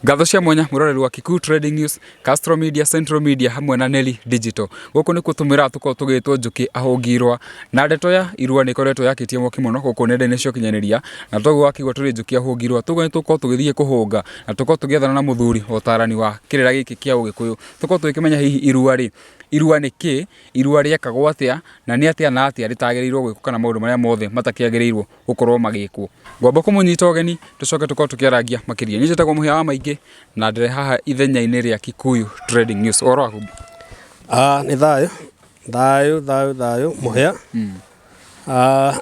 ngatho cia mwanya mwiroreri wa Kikuyu Trading News, Castro Media, Central Media hamwe na Nelly Digital. Gũkũ nĩ kũtũmĩra tũkorwo tũgĩtwo njũkĩ ahũngirwa na ndeto ya irua nĩ ĩkoretwo yakĩtie mwaki mũno gũkũ nenda-inĩ cia ũkinyanĩria na toguo wakĩigua tũrĩ njũkĩ ahũngirwa tũguo nĩ tũkorwo tũgĩthiĩ kũhũnga na tũkorwo tũgĩethana na mũthuri ũtarani wa kĩrĩra gĩkĩ kĩa ũgĩkũyũ tũkorwo tũgĩkĩmenya hihi irua rĩ Irua nĩ kĩĩ, irua rĩekagwo atĩa, na nĩ atĩa na atĩa rĩtagĩrĩirũo gwĩkwo kana maũndũ marĩa mothe matakĩagĩrĩirũo gũkorũo magĩkwo. Ngwamba kũmũnyita ũgeni tũcoke tũkorũo tũkĩarangia makĩria. Niĩ njĩtagwo Mũhia wa Maingĩ na ndĩrĩ haha ithenya-inĩ rĩa Kikuyu Trading News. Ũhoro waku? Nĩ thayũ, thayũ, thayũ, thayũ, Mũhia.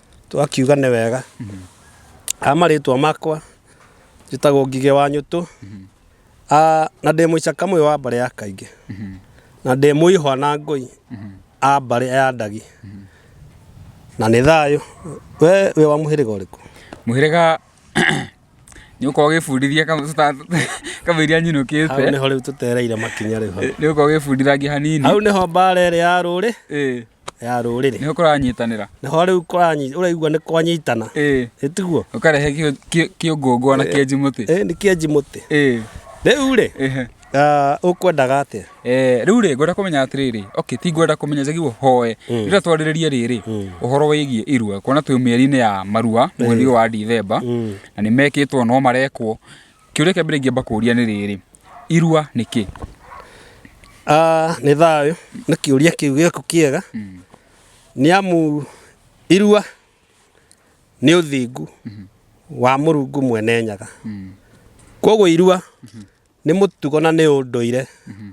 twakiuga nĩ wega a marĩtwa makwa njĩtagwo ngigĩ wa nyũtũ a na ndĩ mũicaka mũyũ wa mbarĩ ya kaingĩ na ndĩ mũihwa na ngũi a mbarĩ ya ndagi na nĩ thayũ we wĩ wa mũhĩrĩga ũrĩkũ mũhĩrĩga nĩ ũkorwo ũgĩbundithia kamũiria hau nyinũkĩte nĩho rĩu tũtereire makinya rĩu hau. nĩ ũkorwo ũgĩbundithangia hanini hau nĩho mbara ĩrĩ ya rũrĩ Ĩĩ. ya rũrĩrĩ nĩ kũranyitanĩra nĩho rĩu kũranyi- ũraigua nĩ kwanyitana ĩĩ ĩtiguo ũkarehe kĩ- kĩ- kĩũngũngwa na kĩenji mũtĩ ĩ nĩ kĩenji mũtĩ ĩĩ rĩu rĩ ĩhe ah, ũkwendaga atĩa Eh, rĩu rĩ ngwenda kũmenya atĩrĩrĩ okay ti ngwenda kũmenya njagirwo hoe rĩrĩa twarĩrĩria rĩrĩ ũhoro wĩgiĩ irua kuona twĩ mĩeri-inĩ ya marua mweri ũyũ wa ndithemba na nĩ mekĩtwo no marekwo Kĩũria kĩa mbere ingĩamba kũũria nĩ rĩrĩ, irua nĩ kĩ? Ah, nĩ thayũ nĩ kĩũria kĩu gĩaku kĩega mm. nĩ amu irua nĩ ũthingu mm -hmm. wa mũrungu mwene nyaga mm. koguo irua mm -hmm. nĩ mũtugo na nĩ ũndũire mm -hmm.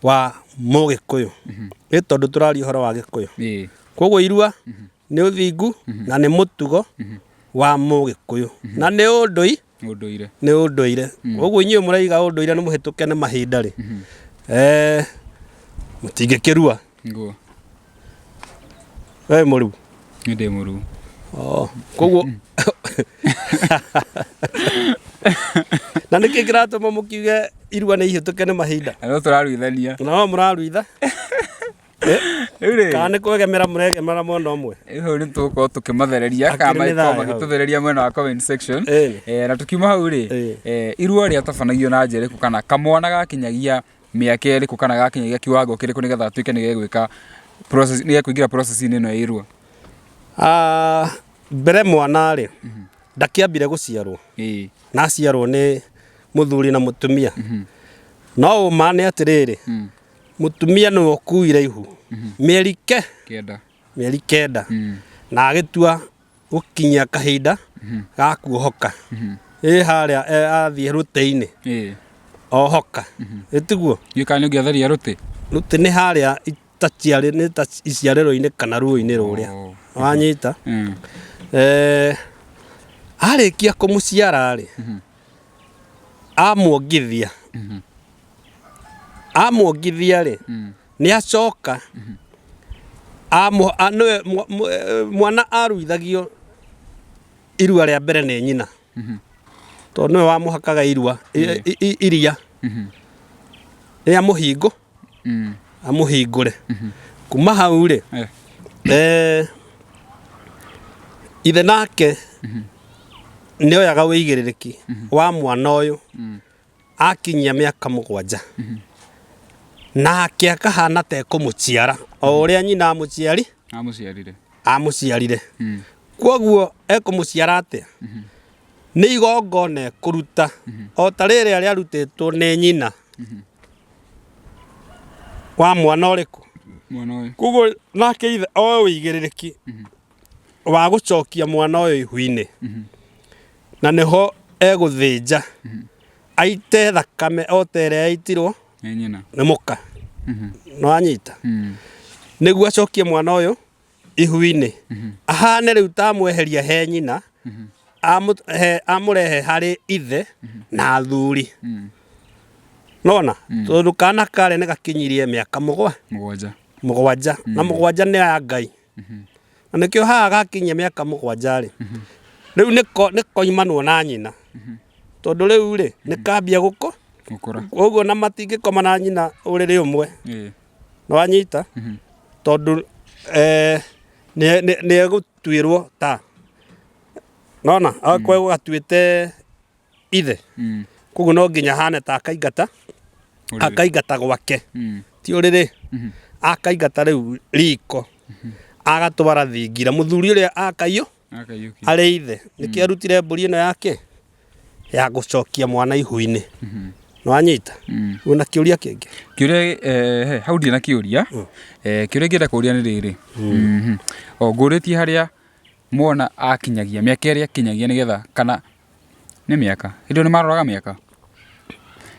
wa mũgĩkũyũ mm -hmm. nĩ tondũ tũraria ũhoro wa gĩkũyũ yeah. koguo irua mm -hmm. nĩ ũthingu mm -hmm. na nĩ mũtugo mm -hmm. wa mũgĩkũyũ mm -hmm. na nĩ ũndũire Ũndũire. nĩ ũndũire ũguo inyuĩ mũraiga ũndũire nĩ mũhĩtũke nĩ mahinda rĩ Eh, mũtingĩkĩrua Nguo. we mũruu Nĩ ndĩ mũruu. Oh, koguo na nä kä kä ratå ma må kiuge irua nä ihä tå ke nä mahinda Nĩ tũraruithania. nao må raruitha rĩu rĩ kana nĩ kwegemera mũregemera mwena ũmwe rĩu hau nĩ tũgũkorwo tũkĩmathereria Akĩrĩ kana mĩthaya makorwo hau. magĩtũthereria mwena wa comment section Ĩĩ. Eh, na tũkiuma hau rĩ Ĩĩ. eh, irua rĩatabanagio na njĩra ĩrĩkũ kana kamwana gakinyagia mĩaka ĩrĩkũ kana gakinyagia kiwango kĩrĩkũ nĩgetha atuĩke nĩ gegwĩka process- nĩ gekũingĩra process-inĩ ĩno ya irua Ah, mbere mwana rĩ ndakĩambire gũciarwo Ĩĩ. na aciarwo nĩ mũthuri na mũtumia no ũma nĩ atĩrĩrĩ Mũtumia nĩwe ũkuire ihu mĩeri ke Kĩenda. mĩeri kenda Mm. na agĩtua gũkinyia kahinda ga kuohoka ĩ harĩa e, athiĩ rũtĩ-inĩ Ĩĩ. ohoka ĩtiguo Gĩũka kana nĩ ũngĩatharia rũtĩ. rũtĩ nĩ harĩa itaciarĩ nĩ ta iciarĩro-inĩ kana ruo-inĩ rũrĩa Oh. wanyita Mm. Eh, arĩkia kũmũciara-rĩ amuongithia amwongithia rĩ nĩ acoka amũ- a- nĩwe mwa- mwa- eh, mwana aruithagio irua rĩa mbere nĩ nyina tondũ nĩwe wamũhakaga irua i- i- i- iria rĩa mũhingo Mm. amũhingũre kuma hau rĩ Eh. eh, ithe nake nĩ oyaga wĩigĩrĩrĩki wa mwana ũyũ akinyia mĩaka mũgwanja nake akahana ta ekũmũciara o ũrĩa nyina amũciari amũciarire amũciarire Mm. kwoguo ekũmũciara atĩa nĩ igongona ekũruta o ta rĩrĩa rĩarutĩtwo nĩ nyina wa mwana ũrĩkũ mwana ũyũ kwoguo nake ithe oe ũigĩrĩrĩki wa gũcokia mwana ũyũ ihu-inĩ na nĩho egũthĩnja aite thakame o ta ĩrĩa yaitirwo Nĩ nyina. nĩ mũka nĩ wanyita Mm. nĩguo acokie mwana ũyũ ihu-inĩ ahane rĩu ta amweheria he nyina amũ- he- amũrehe harĩ ithe na athuri Mm. nona tondũ kana karĩ nĩ gakinyirie mĩaka mũgwa Mũgwanja. mũgwanja na mũgwanja nĩ ya ngai na nĩkĩo haha gakinyia mĩaka mũgwanja-rĩ rĩu nĩko nĩkoimanwo na nyina tondũ rĩu-rĩ nĩkambia gũkũ gũkũra ũguo na matingĩkoma na nyina ũrĩrĩ ũmwe ĩĩ nĩwanyita tondũ eh, nĩ- nĩ- nĩegũtuĩrwo ta nona akorwo gatuĩte ithe Mm. koguo no nginya hane ta akaingata Ũrĩrĩ. akaingata gwake Mm. ti ũrĩrĩ akaingata rĩu riko agatwara thingira mũthuri ũrĩa akaiyũ Akaiyũkia. arĩ ithe nĩkĩo arutire mbũri ĩno yake ya gũcokia mwana ihu-inĩ nĩwanyita Mm. wĩna kĩũria kĩngĩ kĩũria eh, he, hau ndirĩ na kĩũria eh, kĩũria ngĩenda kũria nĩ rĩrĩ Mhm. o ngũrĩtie harĩa mwana akinyagia mĩaka ĩrĩa akinyagia nĩgetha kana Nĩ mĩaka. Hĩndĩ ĩyo nĩ maroraga mĩaka?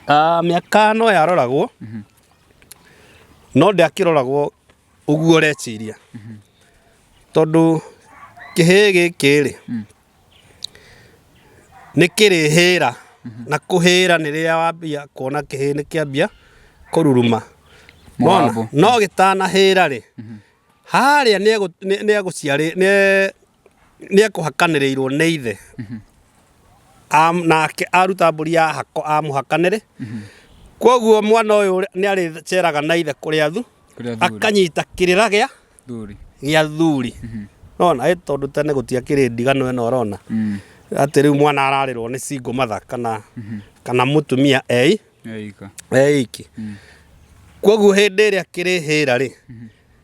Ah, mĩaka no yaroragwo, no ndĩakĩroragwo ũguo ũreciria. Tondũ kĩhĩĩ gĩkĩ-rĩ, nĩ kĩrĩhĩra, na kũhĩra nĩ rĩrĩa wambia kuona kĩhĩĩ nĩ kĩambia kũruruma. Nĩwona? No gĩtanahĩra-rĩ, harĩa nĩ egũ- nĩ- nĩ egũciarĩ- nĩ nĩ ekũhakanĩrĩirwo nĩ ithe Am- nake aruta mbũri ya hako amũhakanĩre kwoguo mwana ũyũ ũrĩa- nĩ arĩceraga na ithe kũrĩa thu Kũrĩa thuri. akanyita kĩrĩra gĩa Thuri. gĩa thuri nona ĩ tondũ tene gũtiakĩrĩ ndigano ĩno ũrona Mm. atĩ rĩu mwana ararĩrwo nĩ singo matha kana kana mũtumia ei Eika. eiki kwoguo hĩndĩ ĩrĩa kĩrĩhĩra rĩ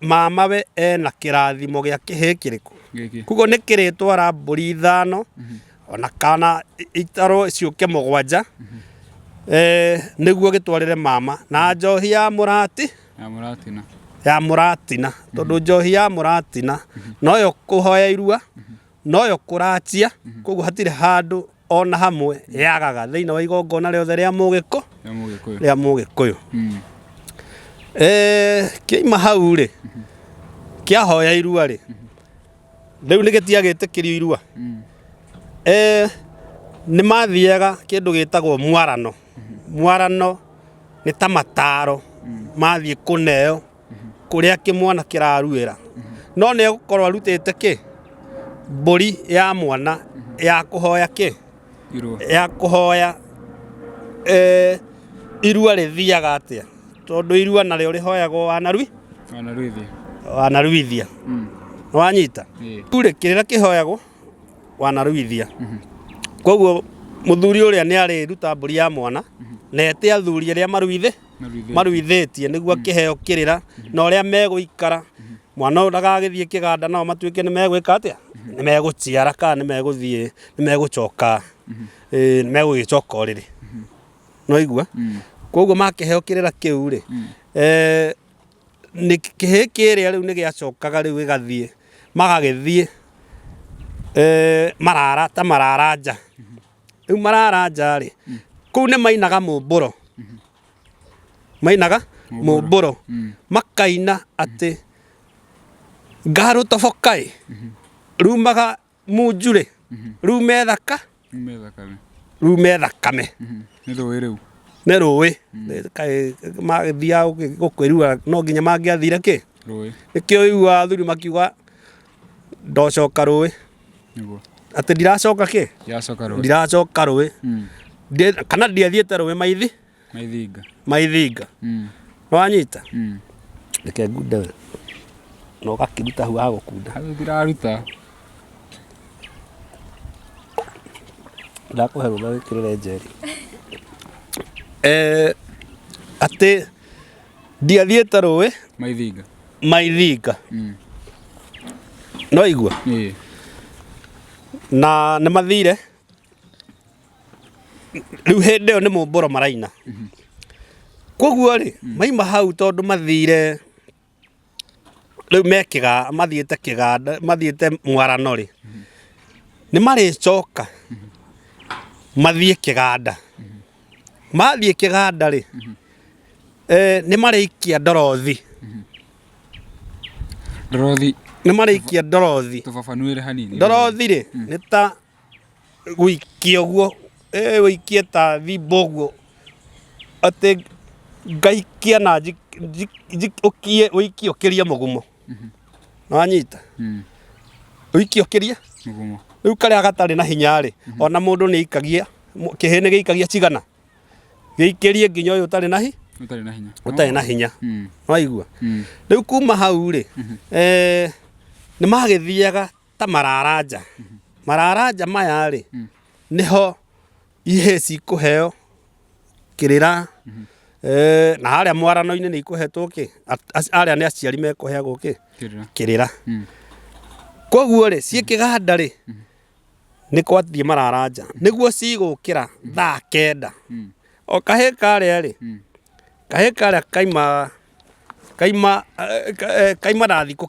mamawe ena kĩrathimo gĩa kĩhĩ kĩrĩkũ gĩkĩ koguo nĩ kĩrĩtwara mbũri ithano ona kana i- itarwo ciũke mũgwanja Eh, nĩguo gĩtwarĩre mama na njohi ya mũrati na mũratina ya mũratina tondũ njohi ya mũratina noyo kũhoya irua noyo kũracia mhm. koguo hatirĩ handũ ona hamwe mhm. yagaga thĩinĩ wa igongona rĩothe rĩa mũgĩkũ rĩa mũgĩkũyũ mhm. eh, kĩima hau rĩ kĩahoya irua rĩ rĩu nĩ gĩtiagĩtĩkĩrio irua mm. eh, nĩ mathiaga kĩndũ gĩtagwo mwarano mwarano nĩ ta mataro mm. mathiĩ kũneo kũrĩa kĩmwana kĩraruĩra no nĩ egũkorwo arutĩte kĩ mbũri ya mwana ya kũhoya kĩ ya kũhoya eh, irua rĩthiaga atĩa tondũ irua narĩo rĩhoyagwo wanarui wanaruithia mm. wanyita turĩ kĩrĩra kĩhoyagwo wanaruithia mhm. koguo muthuri uria ni ari ruta mburi ya mwana mhm. na ete athuri aria maruithe maruithĩtie nĩguo mm. kĩheo kĩrĩra mm-hmm. na ũrĩa megũikara mm-hmm. mwana ũyũ ndagagĩthiĩ kĩganda nao matuĩke nĩ megwĩka atĩa mm-hmm. nĩ megũciara kana nĩ megũthiĩ nĩ megũcoka nĩ megũgĩcoka ũrĩrĩ no igua mm. koguo makĩheo kĩrĩra kĩu rĩ mm. eh, nĩ kĩhĩ kĩrĩa rĩu nĩ gĩacokaga rĩu gĩgathiĩ magagĩthiĩ eh, marara ta marara nja rĩu mararanja-rĩ kũu nĩ mainaga mũmbũro mainaga mũmbũro makaina atĩ ngarũ toboka-ĩ rumaga munju-rĩ rume thaka Nyume thakame. rume thakame Mhm. Nĩ rũĩ rĩu. nĩ rũĩ kaĩ magĩthiaga gũkĩrua no nginya mangĩathire kĩ Rũĩ. nĩkĩo ũiguaga athuri makiuga ndocoka rũĩ nĩguo atĩ ndiracoka kĩ yacoka rũĩ ndiracoka rũĩ Mm, Ndie- kana ndiathiĩte rũĩ maithi maithinga maithinga Mm, nĩwanyita mm. reke ngunde we na ũgakĩruta hau agũkunda hau ndiraruta ndakũhe rũtha wĩkĩrĩre njeri Eh, atĩ ndiathiĩte rũĩ maithinga maithinga mm. no igua yeah. na nĩ mathire rĩu hĩndĩ ĩyo nĩ mũmbũro maraina mm -hmm. koguo rĩ mm. maima hau tondũ mathire rĩu me kĩganda mathiĩte kĩganda mathiĩte mwarano rĩ, nĩ marĩcoka mathiĩ kĩganda. Mathiĩ kĩganda rĩ, nĩ marĩikia ndorothi. Ndorothi. Nĩ marĩikia ndorothi. Tũfafanũĩre hanini. Ndorothi rĩ, nĩ ta... gũikia ũguo ũikie ta thimba ũguo atĩ ngaikia na ũikie ũkĩrie mũgumo nĩ wanyita ũikie ũkĩrie rĩu karĩa gatarĩ na hinya rĩ ona mũndũ nĩ aikagia kĩhĩ nĩ gĩikagia cigana gĩikĩrie nginya ũyũ ũtarĩ na hinya ũtarĩ na hinya nĩ waigua rĩu kuma hau rĩ nĩ magĩthiaga ta mararanja mararanja maya rĩ niho ihĩ cikũheo kĩrĩra Eh, na harĩa mwarano-inĩ nĩ ikũhetwo kĩ At- ac- arĩa nĩ aciari mekũheagwo kĩ Kĩrĩra. kĩrĩra Mm. koguo rĩ ciĩ kĩganda rĩ nĩ kwathiĩ mararanja nĩguo cigũkĩra thaa kenda Mm. o kahĩ karĩa rĩ Mm. kahĩ karĩa kaima kaima eh, ka- eh, kaima na thikũ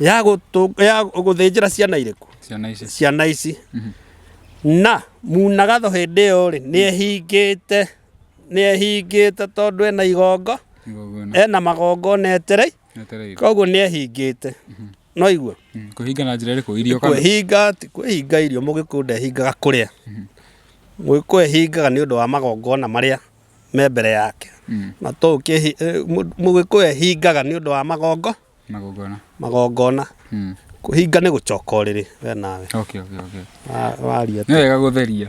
ya gũtũ- ya gũthĩnjĩra ciana irĩkũ ciana ici ciana ici na munagatho hĩndĩ ĩyo rĩ nĩ ehingĩte nĩ ehingĩte tondũ ena igongo igongo ĩno ena magongo na eterei etereire koguo nĩ ehingĩte no igua Mm, kũhinga na njĩra ĩrĩkũ irio kana kwĩhinga ti kwĩhinga irio mũgĩkũyũ ndehingaga kũrĩa mũgĩkũyũ ehingaga nĩ ũndũ wa magongona marĩa me mbere yake. Mm. Na to ũkĩhi, eh, mũ- mũgĩkũyũ ehingaga nĩ ũndũ wa magongo, Magongona. magongona. Mm. Kũhinga nĩ gũcoka ũrĩrĩ we nawe. Okay, okay, okay. Wa- Waria Nĩ wega gũtheria.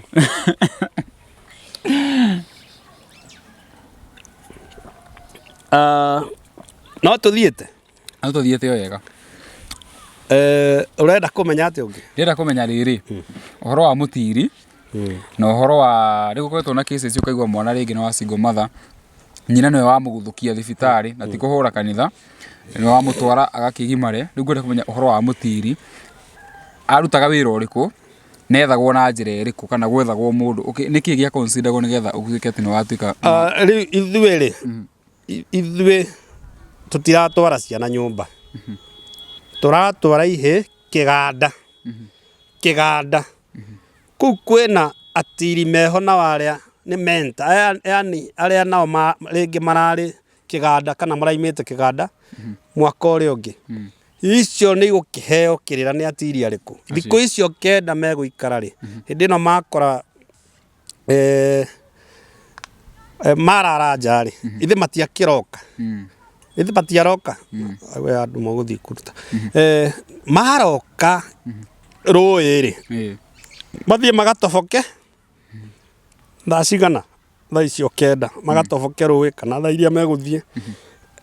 Ah, no tũthiĩte No tũthiĩte o wega. Eh, ũrenda kũmenya atĩ ũngĩ Ndĩrenda kũmenya rĩrĩ, ũhoro wa mũtiri, na ũhoro wa, nĩ gũkoretwo na cases ũkaigua mwana rĩngĩ nĩ wa single mother, nyina nĩwe wamũguthũkia thibitarĩ, na ti kũhũra kanitha, nĩ wamũtwara agakĩgimare, rĩu ngwenda kũmenya ũhoro wa mũtiri, arutaga wĩra ũrĩkũ, na ethagwo na njĩra ĩrĩkũ, kana gwethagwo mũndũ, ũkĩ- nĩ kĩĩ gĩa consider gwo nĩgetha ũtuĩke atĩ nĩ watuĩka Ah, rĩu ithuĩ rĩ I- ithuĩ tũtiratwara ciana nyũmba tũratwara ihĩ kĩganda kĩganda kũu kwĩna atiri meho na arĩa nĩ menta aya yani arĩa nao ma- rĩngĩ mararĩ kĩganda kana maraimĩte kĩganda mwaka ũrĩa ũngĩ icio nĩ igũkĩheo kĩrĩra nĩ atiri arĩkũ thikũ icio kenda megũikara rĩ hĩndĩ ĩno makora eh, eh, mararanja rĩ ithe matiakĩroka ithe matiaroka we andũ magũthiĩ kũruta Eh, maroka rũĩ rĩ Eh. mathiĩ magatoboke thaa cigana thaa icio kenda magatoboke rũĩ kana thaa iria megũthiĩ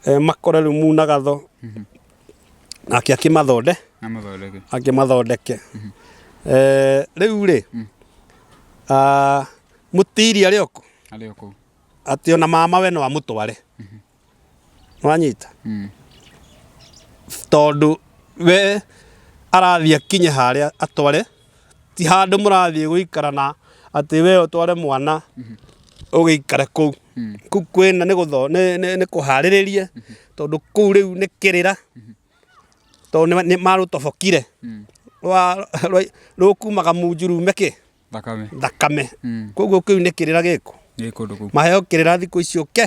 Eh, makore rĩu munagatho nake akĩmathonde Amathondeke. akĩmathondeke Eh, rĩu rĩ ah, mũtiri arĩ oko Arĩ o kũu. atĩ ona mama we no amũtware nĩwanyita Mm. tondũ we arathiĩ akinye harĩa atware ti handũ mũrathiĩ gũikara na atĩ we ũtware mwana ũgĩikare kũu kũu kwĩna nĩ gũtho- nĩ- nĩ- nĩ kũharĩrĩrie tondũ kũu rĩu nĩ kĩrĩra tondũ nĩ- nĩ marũtobokire rwa- rwa- rũkumaga munju rume kĩ thakame thakame Mm. koguo kĩu nĩ kĩrĩra gĩkũ nĩ kũndũ kũu maheo kĩrĩra thikũ icio ke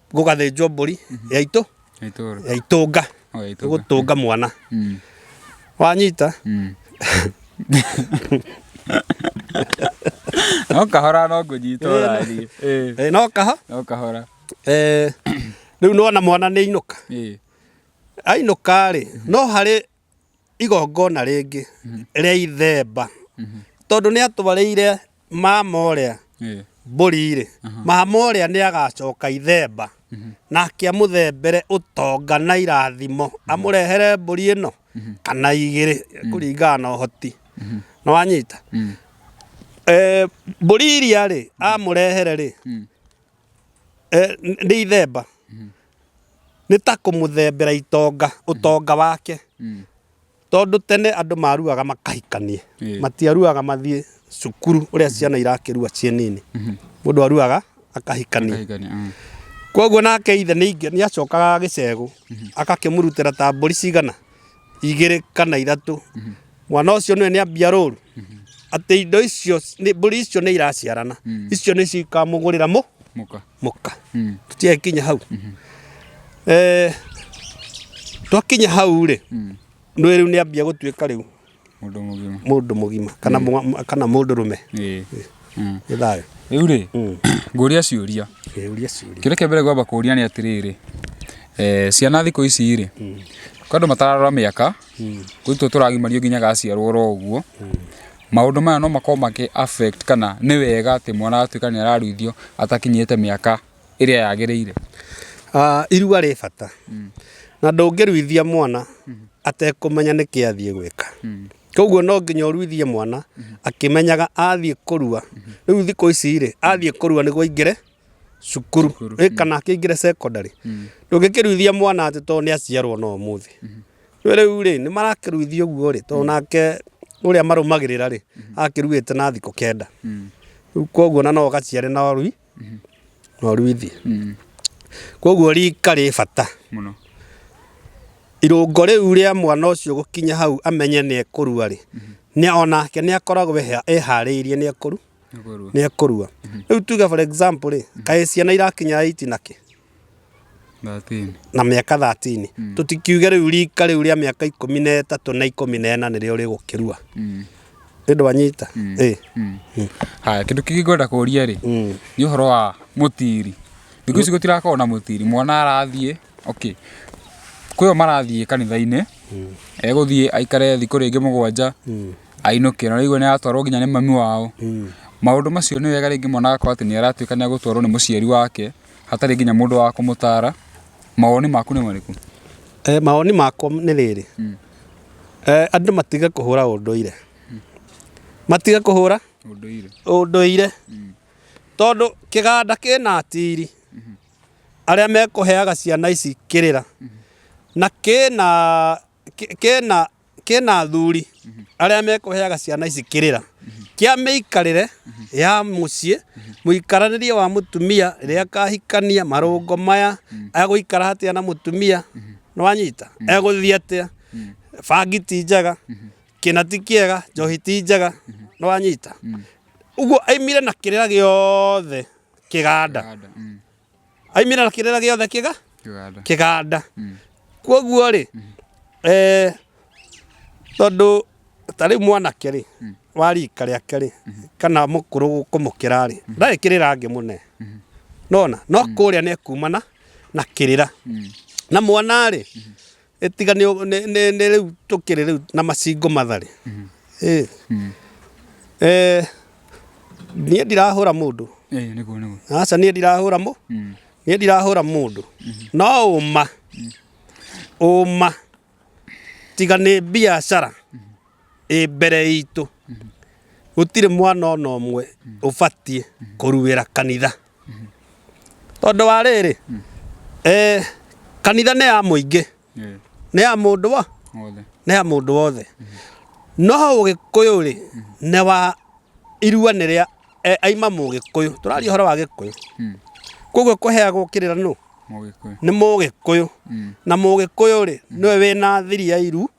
gũgathĩnjwo mbũri ya itũ ya itũũra ya itũnga o ya itũũra gũtũnga mwana Mm, wanyita mm. no kahora no ngũnyita ũrari Eh, Eh, no kaha no kahora Eh, rĩu nona mwana nĩ ainũka Ĩĩ. ainũka rĩ no harĩ igongona rĩngĩ rĩa ithemba tondũ nĩ atwarĩire mama ũrĩa mbũri-rĩ, mama ũrĩa nĩ agacoka ithemba nake amũthembere ũtonga na irathimo, amũrehere mbũri ĩno kana igĩrĩ kũringana na ũhoti. Nĩ wanyita? Mbũri iria-rĩ, amũrehere-rĩ Nĩ ithemba, nĩ ta kũmũthembera itonga, ũtonga wake. Tondũ tene andũ maruaga makahikania, matiaruaga mathiĩ cukuru ũrĩa ciana irakĩrua ciĩ nini. Mũndũ aruaga akahikania. Koguo nake ithe nĩ acokaga gĩcegũ agakĩmũrutĩra ta mbũri cigana? igĩrĩ kana ithatũ mwana ũcio nĩwe nĩambia rũru atĩ indo icio nĩ- mbũri icio nĩ iraciarana icio nĩ cikamũgũrĩra mũ mũka mũka Mm. tũtiakinya hau Eh, twakinya hau rĩ nĩ rĩu nĩambia gũtuĩka rĩu mũndũ mũgima mũndũ mũgima kana mwa- kana mũndũ rũme Ĩĩ. Mm. nĩ thayũ rĩu rĩ Mm. ngũria ciũria Ĩĩ, ũria ciũria kĩrĩa kĩa mbere ngwamba kũria nĩ atĩrĩrĩ eh, ciana thikũ ici rĩ kwa andũ matararora mĩaka gũtũ tũragimario nginya gaciarwo oro ũguo maũndũ maya no makorwo makĩ affect kana nĩ wega atĩ mwana atuĩka nĩ araruithio atakinyĩte mĩaka ĩrĩa yagĩrĩire. Irua rĩ bata na ndũngĩruithia mwana atekũmenya nĩkĩ athiĩ gwĩka. Koguo no nginya ũruithie mwana akĩmenyaga athiĩ kũrua. Rĩu thikũ ici rĩ, athiĩ kũrua nĩguo aingĩre cukuru kana akĩingĩre cekondarĩ. Ndũngĩkĩruithia mwana atĩ tondũ nĩ aciarwo no ũmũthĩ. Nĩ ũĩ rĩu rĩ, nĩ marakĩruithia ũguo rĩ, tondũ nake ũrĩa marũmagĩrĩra rĩ, akĩruĩte na thikũ kenda. Rĩu koguo ona no ũgaciare na rũũa. ng'ondu ithi kwoguo rika rĩ bata mũno irũngo rĩu rĩa mwana ũcio gũkinya hau amenye nĩ ekũrua rĩ onake nĩ akoragwo eharĩirie nĩ ekũrua rĩu tuge for example rĩ kaĩ ciana irakinya eight na kĩ 13. na mĩaka 13 tũtikiuge rĩu rika rĩu rĩa mĩaka ikũmi na ĩtatũ na ikũmi na ĩna nĩrĩo rĩgũkĩrua Mm. ĩndũ wanyita ĩ Mm. haya kĩndũ kĩngĩ ngwenda kũria rĩ Mm. nĩ ũhoro wa mũtiri thikũ ici gũtirakorwo na mũtiri mwana arathiĩ okay kwĩyo marathiĩ kanitha-inĩ egũthiĩ aikare thikũ rĩngĩ mũgwanja ainũke na rĩu nĩ aratwarwo nginya nĩ mami wao maũndũ macio nĩ wega rĩngĩ mwana agakorwo atĩ nĩ aratuĩka nĩ agũtwarwo nĩ mũciari wake hatarĩ nginya mũndũ wa kũmũtara. Mawoni maku nĩ marĩkũ? Eh, mawoni makwa nĩ rĩrĩ mm. eh, andũ matige kũhũra ũndũire mm. matige kũhũra ũndũire, ũndũire. Mm. tondũ kĩganda kĩna atiri mm -hmm. arĩa mekũheaga ciana ici kĩrĩra mm -hmm. na kĩna kĩ- kĩna kĩna athuri arĩa mekũheaga ciana ici kĩrĩra kĩa mĩikarĩre ya mũciĩ mũikaranĩrie wa mũtumia rĩrĩa akahikania marũngo maya egũikara atĩa na mũtumia nĩwanyita egũthiĩ atĩa bangi ti njega kĩna ti kĩega njohi ti njega nĩwanyita ũguo aimire na kĩrĩra gĩothe kĩganda Kanda, mm. aimĩra kĩrĩra gĩothe kĩga kĩganda kĩganda Mm. kwoguo rĩ eh, tondũ ta rĩu mwanake rĩ wa rika rĩake rĩ kana mũkũrũ kũmũkĩra rĩ ndarĩ kĩrĩra angĩ mũne nona no kũrĩa nĩ kumana na kĩrĩra na mwana rĩ Ĩtiga nĩ nĩ nĩ nĩ rĩu tũkĩrĩ rĩu na macingo matharĩ. Ĩ. Eh, niĩ ndirahũra mũndũ. Eh, nĩguo nĩguo. Aca niĩ ndirahũra mũ. Niĩ ndirahũra mũndũ. No ũma. Ũma. Tiga nĩ biacara. ĩ mbere itũ gũtirĩ mwana ona ũmwe ũbatiĩ kũruĩra kanitha tondũ wa rĩrĩ eh, kanitha nĩ ya mũingĩ Eh, nĩ ya mũndũ wa Wothe. nĩ ya mũndũ wothe no ũgĩkũyũ rĩ nĩ wa irua nĩ rĩa eh, aima mũgĩkũyũ tũraria ũhoro wa gĩkũyũ Mm. koguo kũheagwo kĩrĩra nũ Mũgĩkũyũ. nĩ mũgĩkũyũ Mm. na mũgĩkũyũ rĩ nĩwe wĩna thiri ya iru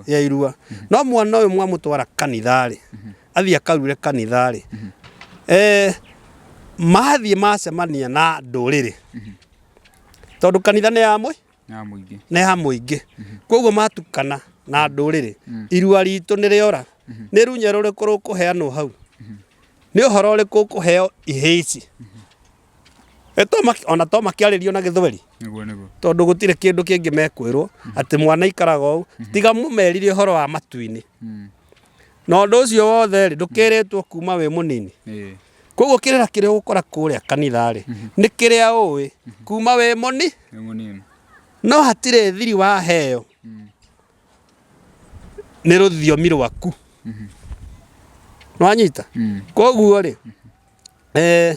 ya irua no mwana ũyũ mwamũtwara kanitharĩ athiĩ akarure kanitharĩ eh, mathiĩ macemania na ndũrĩrĩ tondũ kanitha nĩ ya mũi na mũingĩ nĩ ya mũingĩ koguo matukana na ndũrĩrĩ irua ritũ nĩ rĩora nĩ runya rũrĩkũ rũkũheanwo hau nĩ ũhoro ũrĩkũ ũkũheo ihĩici Eh, to maki- ona to makĩarĩrio na gĩthweri nĩguo nĩguo tondũ gũtirĩ kĩndũ kĩngĩ mekwĩrwo atĩ mwana ikaraga ũũ tiga mũmerire ũhoro wa matu-inĩ Mm. na ũndũ ũcio wothe rĩ ndũkĩrĩtwo kuma wĩ mũnini Ĩĩ. koguo kĩrĩra kĩrĩa ũgũkora kũrĩa kanitha rĩ nĩ kĩrĩa ũĩ kuma wĩ mũni nĩ mũnini no hatirĩ thiri waheo nĩ rũthiomi rwaku nĩwanyita Mm. koguo rĩ eh,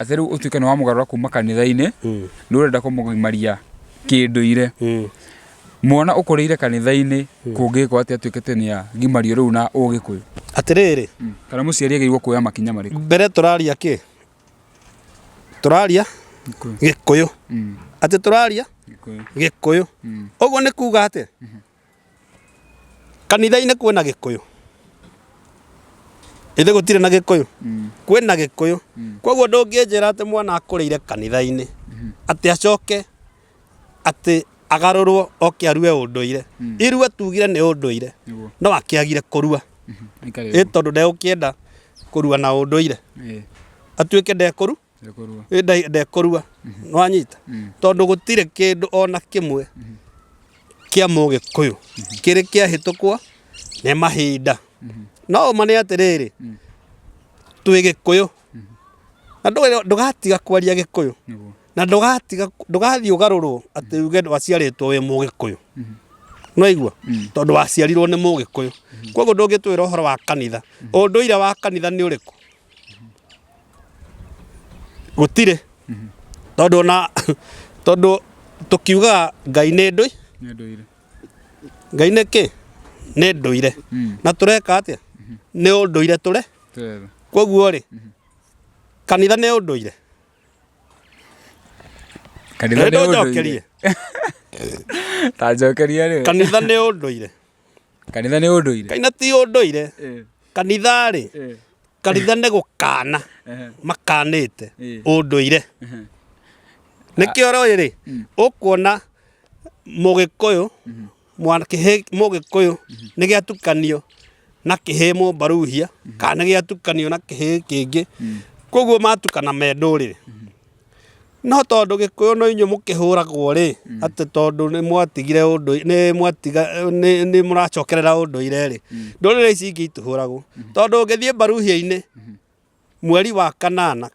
atĩ rĩu ũtuĩke nĩ wamũgarũra kuma kanitha-inĩ nĩ ũrenda kũmũgimaria kĩndũire mwana ũkũrĩire kanitha-inĩ kũngĩkwo atĩ atuĩke atĩ nĩ agimario rĩu na ũgĩkũyũ atĩrĩrĩ kana mũciari agĩrĩirwo kuoya makinya marĩkũ mbere tũraria kĩ tũraria gĩkũyũ atĩ tũraria gĩkũyũ ũguo nĩ kuga atĩ Kanitha-inĩ kwĩna gĩkũyũ? Githĩ gũtirĩ na gĩkũyũ? Kwĩna gĩkũyũ. Kwoguo ndũngĩnjĩra atĩ mwana akũrĩire kanitha-inĩ, atĩ acoke atĩ agarũrwo oke arue ũndũire. Irua tuugire nĩ ũndũire. Nĩguo. No akĩagire kũrua. Ĩ tondũ ndegũkĩenda kũrua na ũndũire? Atuĩke ndekũrua? Ndekũrua. Ĩ, nda- ndekũrua nwanyita tondũ gũtirĩ kĩndũ ona kĩmwe kĩa mũgĩkũyũ kĩrĩ kĩahĩtũkwo nĩ mahinda no ũma nĩ atĩrĩrĩ twĩ gĩkũyũ na ndũge- ndũgatiga kwaria gĩkũyũ Nĩguo. na ndũgatiga ndũgathiĩ ũgarũrwo atĩ uge waciarĩtwo wĩ mũgĩkũyũ nwaigua tondũ waciarirwo nĩ mũgĩkũyũ koguo ndũngĩtwĩra ũhoro wa kanitha ũndũire wa kanitha nĩ ũrĩkũ gũtirĩ tondũ ona tondũ tũkiugaga ngai nĩ ndũi nĩ andũ ire ngai nĩ kĩ nĩ ndũire na tũreka atĩa nĩ ũndũire tũre tũretha koguo rĩ kanitha nĩ ũndũire kanitha nĩ ũndũire nĩndũnjokerie ta njokeria rĩ kanitha nĩ ũndũire Kanitha nĩ ũndũire. Kanitha ti ũndũire. Eh. Kanitha-rĩ, eh. kanitha nĩ gũkana eh. makanĩte ũndũire. Nĩkĩo rĩ, mm. ũkuona mũgĩkũyũ mm-hmm. mwanakĩhĩ mũgĩkũyũ mm-hmm. nĩ gĩatukanio na kĩhĩ mũmbaruhia mm-hmm. kana nĩ gĩatukanio na kĩhĩ kĩngĩ. Mm. Koguo matukana me ndũrĩrĩ. No tondũ gĩkũyũ no inyuĩ mũkĩhũragwo rĩ, atĩ tondũ nĩ mwatigire ũndũire, nĩ mwatiga, nĩ nĩ mũracokerera ũndũire rĩ, ndũrĩrĩ ici ingĩ itihũragwo. Tondũ ũngĩthiĩ mbaruhia-inĩ, mweri wa kanana,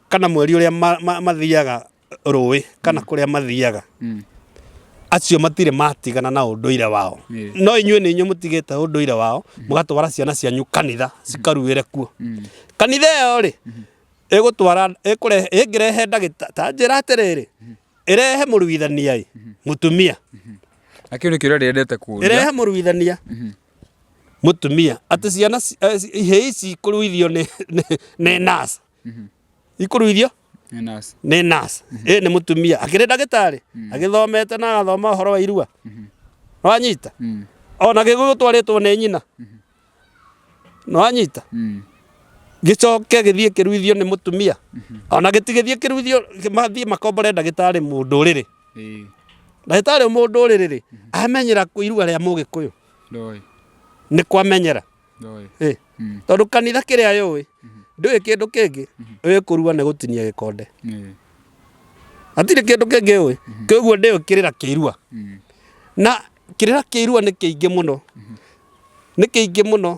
kana mweri ũrĩa ma- ma- mathiaga rũĩ, kana kũrĩa mathiaga, acio matirĩ matigana na ũndũire wao. Ĩĩ. No inyuĩ nĩ inyuĩ mũtigĩte ũndũire wao, mũgatwara ciana cianyu kanitha, cikaruĩre kuo. Kanitha ĩyo rĩ, ĩgũtwara ĩkũrehe ĩngĩrehe ndagĩtarĩ ta njĩra atĩrĩrĩ ĩrehe mũruithania ĩ mũtumia na kĩu nĩ kĩũria rĩendete kũria ĩrehe mũruithania mũtumia atĩ ciana ci- eh, ci- ihĩ ici ikũruithio nĩ nĩ- nĩ nurse ikũruithio Nĩ nurse. nĩ nurse ĩ nĩ mũtumia akĩrĩ ndagĩtarĩ agĩthomete na agathoma ũhoro wa irua wanyita Mm. ona gĩgũgĩtwarĩtwo nĩ nyina nĩwanyita Mm. gĩcoke gĩthiĩ kĩruithio nĩ mũtumia ona gĩtigĩthiĩ kĩruithio mathiĩ makombore ndagĩtarĩ mũndũrĩrĩ Ĩĩ. ndagĩtarĩ mũndũrĩrĩ rĩ amenyera kũ- iruga rĩa mũgĩkũyũ Ndoĩ. nĩ kwamenyera Ndoĩ. Ĩ, Mm. tondũ kanitha kĩrĩa yũĩ ndũĩ kĩndũ kĩngĩ ũĩ kũrua nĩ gũtinia gĩkonde Ĩĩ. hatirĩ kĩndũ kĩngĩ ũĩ kĩguo ndĩũkĩrĩra kĩirua Mm. na kĩrĩra kĩa irua nĩ kĩingĩ mũno, nĩ kĩingĩ mũno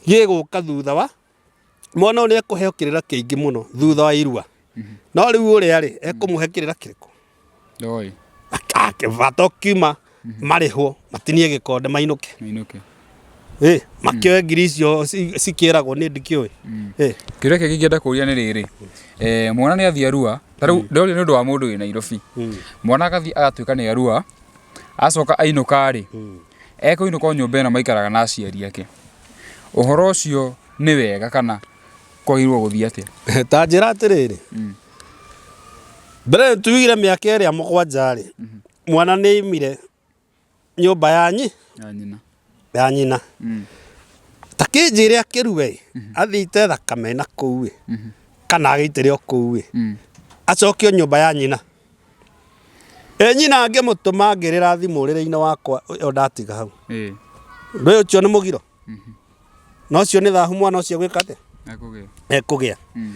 gĩgũka thutha wa, mwana ũyũ nĩ ekũheo kĩrĩra kĩingĩ mũno thutha wa irua. No rĩu ũrĩa rĩ, ekũmũhe kĩrĩra kĩrĩkũ? Ndoĩ. Bata ũkiuma marĩhwo matinie gĩkonde mainũke. Mainũke. Eh, makĩoe ngiri icio ci- cikĩragwo nĩ ndikĩũĩ Eh, kĩũria kĩngĩ ingĩenda kũria nĩ rĩrĩ eh, mwana nĩ athiĩ arua ta rĩu ndoria nĩ ũndũ wa mũndũ wĩ nairobi mwana agathiĩ agatuĩka nĩ arua acoka ainũka rĩ ekũinũka o nyũmba ĩno maikaraga na aciari ake ũhoro ũcio nĩ wega kana kwagĩrĩirwo gũthiĩ atĩa ta njĩra atĩrĩrĩ mbere tuigire mĩaka ĩrĩa mũgwanja-rĩ mwana nĩ aimire nyũmba ya nyi ya nyina ya nyina mm. ta kĩnjĩre akĩrue ĩ mhm. athite thakame na kũu ĩ mhm. kana agĩitĩre o kũu ĩ mm. acokio nyũmba ya nyina ĩ nyina angĩmũtũma ngĩrĩra thimũ ũrĩrĩ-inĩ wakwa ĩyo ndatiga hau ndũĩ ũcio nĩ mũgiro mhm. na ũcio nĩ thahu mwana ũcio gwĩka atĩa ekũgĩa mm.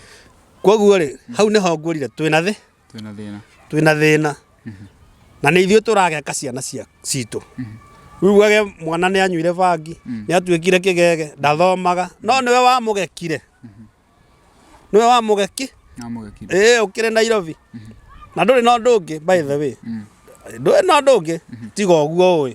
koguo rĩ hau nĩho ngwĩrire twĩna thĩ twĩna thĩna twĩna thĩna na nĩ ithuĩ tũrageka ciana cia- citũ rĩu wage mwana nĩ anyuire bangi nĩ atuĩkire kĩgege ndathomaga no nĩwe wamũgekire nĩwe wamũgeki namũgekire ĩĩ ũkĩrĩ nairobi na ndũrĩ na ũndũ ũngĩ by the way ndũrĩ na ũndũ ũngĩ tiga ũguo ũĩ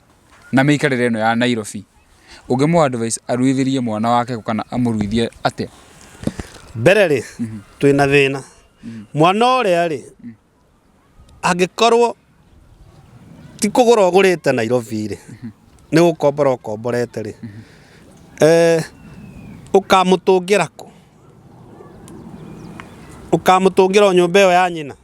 na mĩikarĩre ĩno ya Nairobi, ũngĩ mũ advise aruithĩrie mwana wake kana amũruithie atĩa? Mbere rĩ, twĩ na thĩna. Mwana ũrĩa rĩ, angĩkorwo ti kũgũra ũgũrĩte Nairobi rĩ, nĩ gũkombora ũkomborete rĩ, eh, ũkamũtũngĩra kũ? Ũkamũtũngĩra o nyũmba ĩyo ya nyina?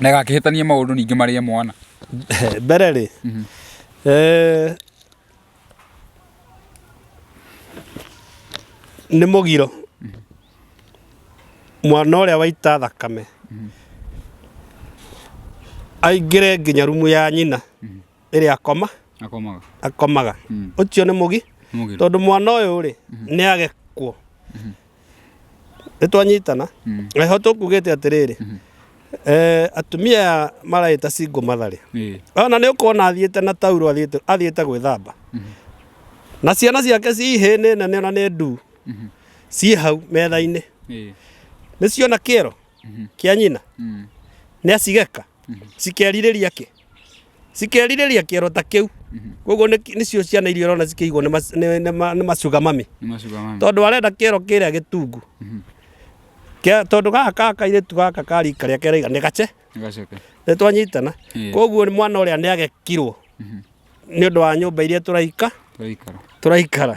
Na ĩgakĩhĩtania maũndũ ningĩ marĩa mwana. Mbere rĩ, mhm. eh, nĩ mũgiro mhm. mwana ũrĩa waita thakame mhm. aingĩre nginya rumu ya nyina ĩrĩa akoma akomaga akomaga Mm. ũcio nĩ mũgi mũgiro tondũ mwana ũyũ rĩ nĩ agekwo nĩ twanyitana Mm. eho tũkugĩte atĩrĩrĩ eh, atumia aya maragĩta singo matharĩ Ĩĩ. ona nĩ ũkuona athiĩte na tauro athiĩte athiĩte gwĩthamba na ciana ciake ci hĩ nĩ nene ona nĩ ndu ciĩ hau metha-inĩ Ĩĩ. nĩ ciona kĩero kĩa nyina Mm. nĩ acigeka cikerirĩria kĩ cikerirĩria kĩero ta kĩu koguo nĩ- nĩcio ciana iria ũrona cikĩigwo nĩ mac- nĩ- nĩ ma- nĩ macuga mami Nĩ macuga mami. tondũ arenda kĩero kĩrĩa gĩtungu Kĩa- tondũ gaka ka kairĩtu gaka ka rika rĩake rĩiga nĩ gace Gaceke. nĩ twanyitana Ĩĩ. koguo mwana ũrĩa nĩ agekirwo nĩ ũndũ wa nyũmba iria tũraika tũraikara tũraikara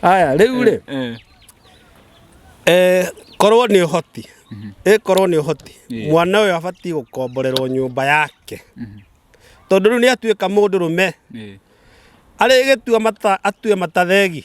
aya rĩu rĩ Eh, eh, korwo nĩ ũhoti ĩ korwo nĩ ũhoti Yeah. mwana ũyũ abatiĩ gũkomborerwo nyũmba yake tondũ rĩu nĩ atuĩka mũndũ rũme eh, arĩgĩtua mata atue matathegi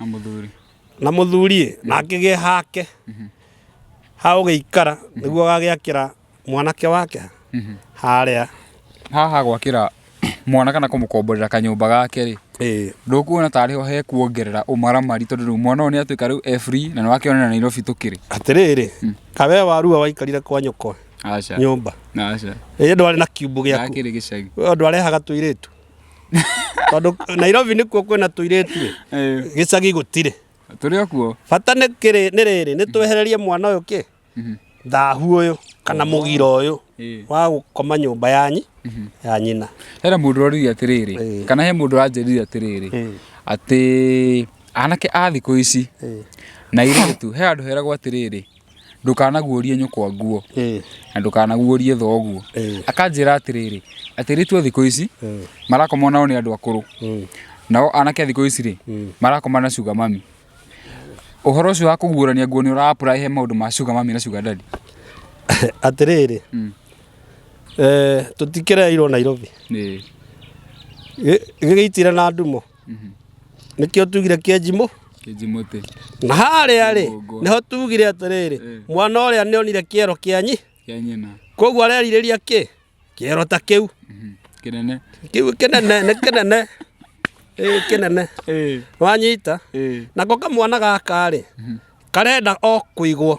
na mũthuri na mũthuri na akĩgĩe hake ha ũgĩikara nĩguo agagĩakĩra mwanake wake harĩa haha gwakĩra mwana kana kũmũkomborera kanyũmba gake rĩ ĩĩ ndũkuona tarĩ ho he kuongerera ũmaramari tondũ rĩu mwana ũyũ nĩ atuĩka rĩu e free na nĩ wakĩona na Nairobi tũkĩrĩ atĩrĩrĩ kawe warua waikarire kwa nyoko aca nyũmba aca ĩĩ ndwarĩ na kiubu gĩaku ndakĩrĩ gĩcagi ũyũ andũ arehaga tũirĩtu tondå nairobi nä kuo kwä na tå irä tu Eh, gä cagi gå tirä tũrĩ o kuo bata nä kä rä nä rä rä nä twehererie mwana å yå kä thahu å yå kana må gira å yå Ĩĩ. wa gå koma nyå mba yanyi ya nyina hena mũndũ ũroririe atĩrĩrĩ Ĩĩ. kana he mũndũ ũranjĩrire atĩrĩrĩ Ĩĩ. atĩ anake a thikũ ici Ĩĩ. na irĩtu he andũ heragwo atĩrĩrĩ ndũkanaguũrie nyũkwa nguo na ndũkanaguũrie thoguo. Akanjĩra atĩrĩrĩ, atĩrĩtu a thikũ ici marakomwo nao nĩ andũ akũrũ, nao anake a thikũ ici rĩ, marakoma na sugar mummy. Ũhoro ũcio wa kũguũrania nguo nĩ ũra apply he maũndũ ma sugar mummy na sugar daddy? Atĩrĩrĩ, tũtikĩreeirwo Nairobi, gĩgĩitire na ndumo. nĩkĩo tugire kĩenjimũ Kĩnjimũtĩ. na harĩa rĩ Kĩgongo. nĩho tugire atĩrĩrĩ Eh. mwana ũrĩa nĩonire kĩero kĩanyi Kĩa nyina. koguo arerirĩria kĩ kĩero ta kĩu Mhm. Kĩnene. kĩu kĩnene nĩ kĩnene Ĩĩ, kĩnene Ĩĩ. wanyita Ĩĩ. nako kamwana gaka rĩ karenda o kũigwo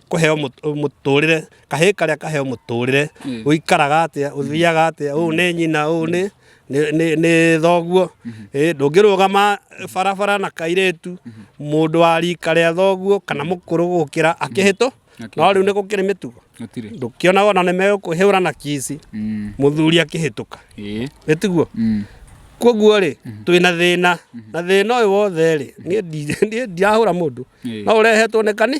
kũheo mũtũrĩre kahĩ karĩa kaheo mũtũrĩre mm. ũikaraga atĩa mm. ũthiaga atĩa ũũ nĩ nyina ũũ nĩ nĩ thoguo mm-hmm. ndũngĩrũgama barabara na kairĩtu mm-hmm. mũndũ wa rika rĩa thoguo kana mm-hmm. mũkũrũ gũkĩra akĩhĩtũ no rĩu nĩ gũkĩrĩ mĩtugo ndũkĩona ona nĩ megũkũhĩũra na kici mm. mũthuri akĩhĩtũka nĩ tiguo mm. koguo rĩ mhm. twä na thä na na thä na å yå wothe rä niä ndirahå ra må ndå no å rehetwo nä kanä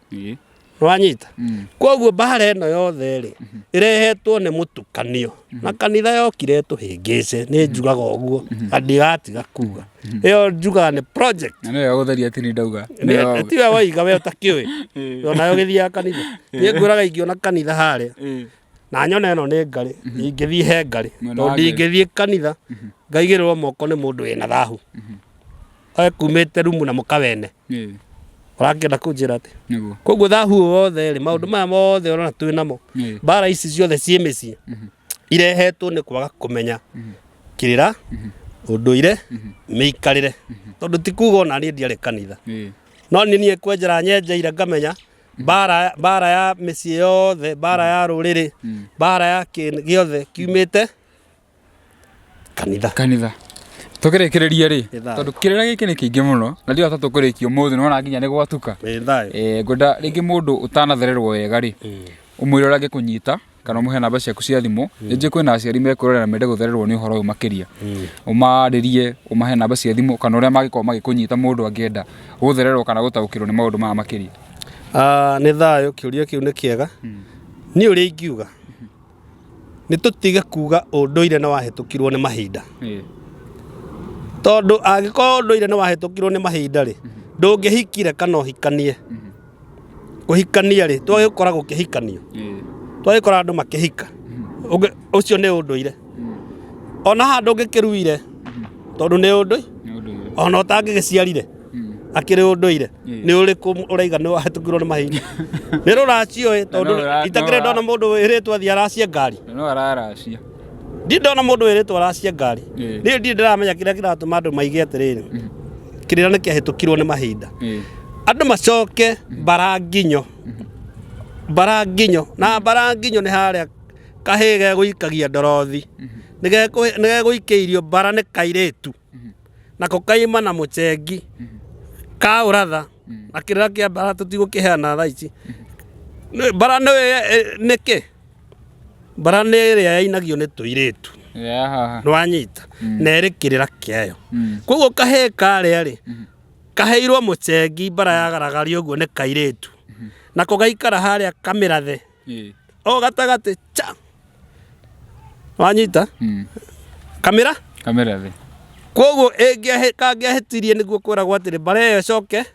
Ĩĩ. nĩwanyita Mm. koguo mbara ĩno yothe rĩ ĩrehetwo nĩ mũtukanio na kanitha yokire tũhĩngĩce nĩ njugaga ũguo na ndigatiga kuga ĩyo njugaga nĩ project Na nĩyo gũtheria atĩ nĩ ndauga. Nĩ- tiwe waiga we ũtakĩũĩ Ĩĩ. onayo gĩthiaga kanitha niĩ ngwĩraga ingĩona kanitha harĩa Ĩĩ. na nyona ĩno nĩ ngarĩ ingĩthiĩ he ngarĩ Mwena tondũ wa Ngai. ndingĩthiĩ kanitha ngaigĩrĩrwo moko nĩ mũndũ wĩna thahu oe kumĩte rumu na mũkawene ũrakĩenda kũnjĩra atĩ nĩguo koguo thahu ũyũ wothe rĩ maũndũ maya mothe ũrona twĩ namo Nĩ. mbara ici ciothe ciĩ mĩciĩ irehetwo nĩ kwaga kũmenya kĩrĩra ũndũire mĩikarĩre tondũ ti kuga ona niĩ ndiarĩ kanitha Ĩ. no nĩ niĩ kwenjera nyenjeire ngamenya mbara mbara ya mĩciĩ yothe mbara ya rũrĩrĩ mbara ya kĩndũ gĩothe kiumĩte kanitha kanitha tũkĩrĩkĩrĩrie rĩ Nĩ thayũ. tondũ kĩrĩra gĩkĩ nĩ kĩingĩ mũno na ndio tatũ kũrĩkia ũmũthĩ nĩ wona nginya nĩ gwatuka Ĩ, thayũ Eh, ngwenda rĩngĩ mũndũ ũtanathererwo wega rĩ ũmwĩre ũrĩa angĩkũnyita kana ũmũhe namba ciaku cia thimũ rĩngĩ kwĩna aciari mekwĩrorera na mende gũthererwo nĩ ũhoro ũyũ makĩria ũmarĩrie ũmahe namba cia thimũ kana ũrĩa mangĩkorwo magĩkũnyita mũndũ angĩenda gũthererwo kana gũtaũkĩrwo nĩ maũndũ maya makĩria Ah, nĩ thayũ kĩũria kĩu nĩ kĩega niĩ ũrĩa ingiuga nĩ tũtige kuga ũndũire nĩ wahĩtũkirwo nĩ mahinda tondũ angĩkorwo ũndũire nĩ wahĩtũkirwo nĩ mahinda rĩ ndũngĩhikire kana ũhikanie kũhikania rĩ twagĩkora gũkĩhikanio twagĩkora andũ makĩhika Ũngĩ- ũcio nĩ ũndũire ona handũ ũngĩkĩruire tondũ nĩ ũndũ ona ũtangĩgĩciarire akĩrĩ ũndũire nĩ ũrĩkũ ũraiga nĩ wahĩtũkirwo nĩ mahinda nĩ rũraciũĩ tondũ no ra- itakĩrĩ no ra- ndona mũndũ wĩrĩtwo athiĩ aracia ngari no araracia ndirĩ ndona mũndũ wĩrĩtwo aracia ngari Ĩĩ. niĩ ndirĩ ndĩramenya kĩrĩa kĩratũma andũ maige atĩrĩrĩ kĩrĩa nĩ kĩahĩtũkirwo nĩ mahinda Ĩĩ. andũ macoke mbaranginyo mbaranginyo na mbaranginyo nĩ harĩa kahĩ gegũikagia ndorothi Nĩ gekũ- nĩ gegũikĩirio mbara nĩ kairĩtu nako kaima na mũcengi ka ũratha na kĩrĩa kĩa mbara tũtigũkĩheana thaa ici Nĩ- mbara nĩ ĩ- nĩ kĩ mbara nĩ ĩrĩa yainagio nĩ tũirĩtu Yeah. nĩwanyita na ĩrĩ kĩrĩra kĩayo Mm. koguo kahĩĩ karĩa rĩ kaheirwo mũcengi mbara yagaragaria ũguo nĩ kairĩtu nako gaikara harĩa kamĩrathe Eh. o gatagatĩ cha wanyita Mm. kamera Kamera thĩ. koguo ĩngĩahĩ- kangĩahĩtirie nĩguo kwĩragwo atĩrĩ mbara ĩyo ĩcoke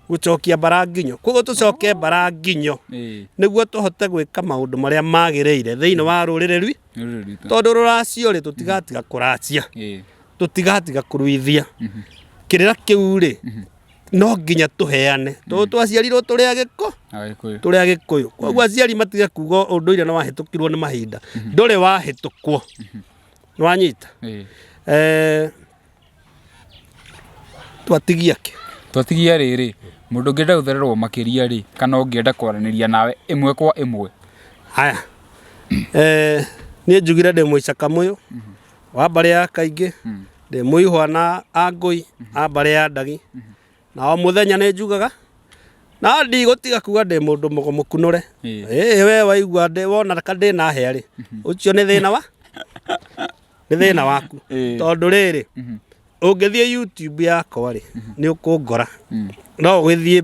gũcokia mbara nginyo koguo tũcoke mbara nginyo Eh. nĩguo tũhote gwĩka maũndũ marĩa magĩrĩire thĩinĩ wa rũrĩrĩ rwi Rũrĩrĩ rwitũ. tondũ rũracio rĩ tũtigatiga kũracia Eh. tũtigatiga kũruithia kĩrĩra kĩu rĩ no nginya tũheane tondũ mm. twaciarirwo tũrĩ agĩkũ tũrĩ agĩkũyũ koguo mm. aciari matige kuga ũndũire nĩ wahĩtũkirwo nĩ mahinda mm-hmm. ndũrĩ wahĩtũkwo mm-hmm. nĩ wanyita eh, twatigia kĩ twatigia rĩrĩ mũndũ ũngĩenda gũthererwo makĩria rĩ kana ũngĩenda kwaranĩria nawe ĩmwe kwa ĩmwe haya eh, niĩ njugire ndĩ mũicaka mũyũ mm-hmm. wa mbarĩ ya kaingĩ mm. ndĩ mũihwa na angũi mm -hmm. a mbarĩ ya ndagi mm -hmm. na o mũthenya nĩ njugaga na ndigũtiga kuga ndĩ mũndũ mũgũmũkunũre ĩĩ we waigua ndĩ wona ka ndĩ na hĩa rĩ mhm. ũcio nĩ thĩna wa nĩ thĩna waku tondũ rĩrĩ mhm. ũngĩthiĩ youtube yakwa rĩ mhm. nĩ ũkũngora mm. no ũgĩthiĩ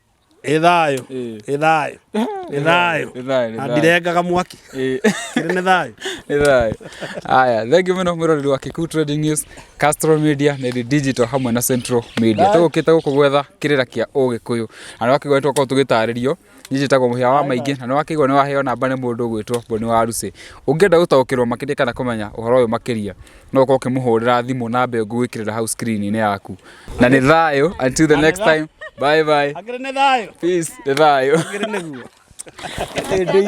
ĩ thayũ Ĩĩ. ĩ thayũ ĩ thayũ Nĩ thayũ, nĩ na thayũ. ndirengaga mwaki Ĩĩ. kĩrĩ nĩ thayũ Nĩ thayũ. Aya, thengiũ mũno mwĩroreri wa Kikuyu Trading News, Castrol Media, Nedi Digital hamwe na Central Media. Tũgũkĩte gũkũ gwetha kĩrĩra kĩa Ũgĩkũyũ. Na nĩ wakĩigua nĩ twakorwo tũgĩtarĩrio. Niĩ njĩtagwo mũhĩa wa maingĩ na nĩ wakĩigua nĩ waheo namba nĩ mũndũ ũgwĩtwo Boni wa Rucĩ. Ũngĩenda gũtaũkĩrwo makĩria kana kũmenya ũhoro ũyũ makĩria, no ũkorwo ũkĩmũhũrĩra thimũ namba ĩyo ngũgwĩkĩrĩra hau screen-inĩ yaku na nĩ thayũ until the next time bye bye Angĩrĩ nĩ thayũ. peace nĩ thayũ Angĩrĩ nĩguo.